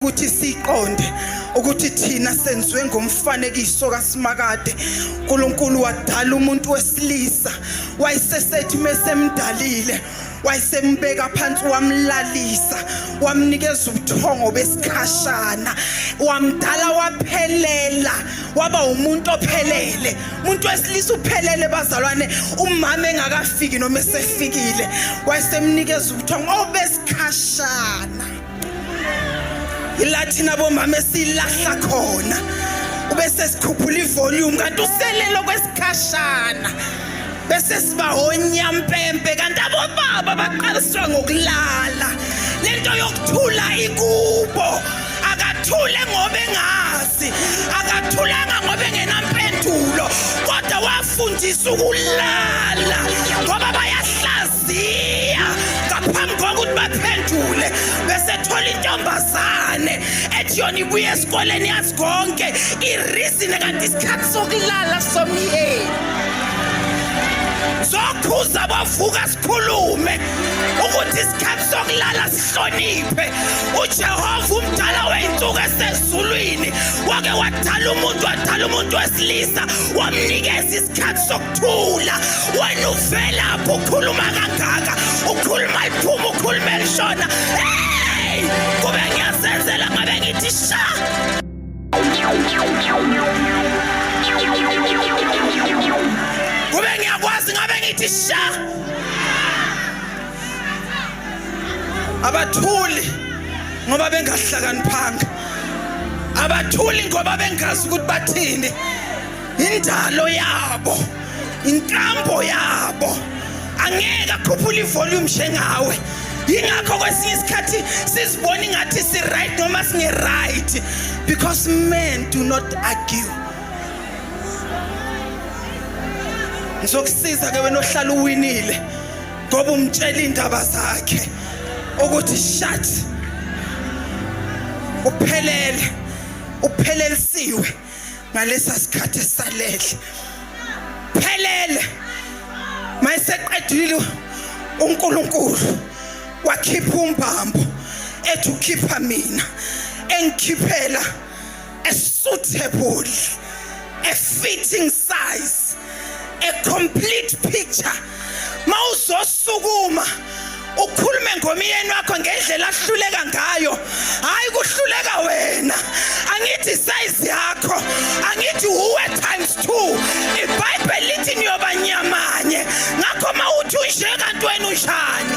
ukuthi siqonde ukuthi thina senziwe ngomfanekiso kaSimakade uNkulunkulu wadala umuntu wesilisa wayesesethi mesemdalile wayesembeka phansi wamlalisa wamnikeza ubuthongo besikhashana wamdala waphelela waba umuntu ophelele umuntu wesilisa uphelele bazalwane umama engakafiki noma esefikile wayesemnikeza ubuthongo obesikhashana ilathina bomama esilahla khona ubese sikhuphula ivolume kanti uselelo kwesikhashana bese sibahonya mpempe kanti abobaba baqaliswa ngokulala lento yokuthula ikubo akathule ngoba engazi akathulanga ngoba engenampendulo kodwa wafundisa ukulala ngoba bayahlaza ngaphambi kokuthi baphendule besethola intombazane ethi yona ibuye esikoleni yazi konke irizine kanti isikhathi sokulala somyeni zokhuza bavuka sikhulume ukuthi isikhathi sokulala sihloniphe ujehova umdala weyinsuku esezulwini wake wadala umuntu wadala umuntu wesilisa wamnikeza isikhathi thula wena uvelaphi ukhuluma kangaka ukhuluma liphuma ukhuluma elishona hey kube ngiyazenzela ngabe ngithi sha kube ngiyakwazi ngabe ngithi sha abathuli ngoba bengahlakaniphanga abathuli ngoba bengazi ukuthi bathini indalo yabo inkambo yabo angeke akhuphula ivolume njengawe yingakho kwesinye isikhathi sizibona ingathi si-right noma singe-right because men do not argue ngizokusiza ke wena ohlala uwinile ngoba umtshela iy'ndaba zakhe ukuthi shat uphelele uphelelisiwe ngalesa sikhathi esalele phelele mayiseqedile uNkulunkulu wakhipha umbambo ethi ukhipha mina engikhiphela a suitable a fitting size a complete picture mawuzosukuma ukhulume ngomyeni wakho ngendlela ahluleka ngayo hayi kuhluleka wena angithi size yakho angithi uwe times 2 ibhayibheli lithi niyoba nyamanye ngakho mawuthi unje kanti wena unjani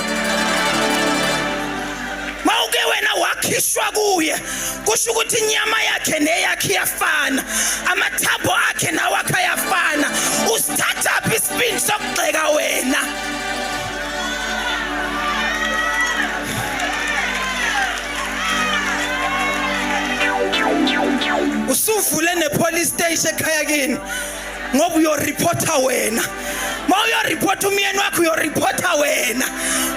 mawuke wena wakhishwa kuye kusho ukuthi inyama yakhe neyakhe iyafana amathambo akhe nawakhe ayafana usithathaphi isibindi sokugxeka wena usuvule ne-police station ekhaya kini ngoba uyoreporta wena ma uyoreporta umyeni wakho uyoreporta wena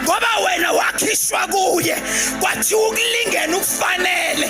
ngoba wena wakhishwa kuye kwathiwa ukulingena ukufanele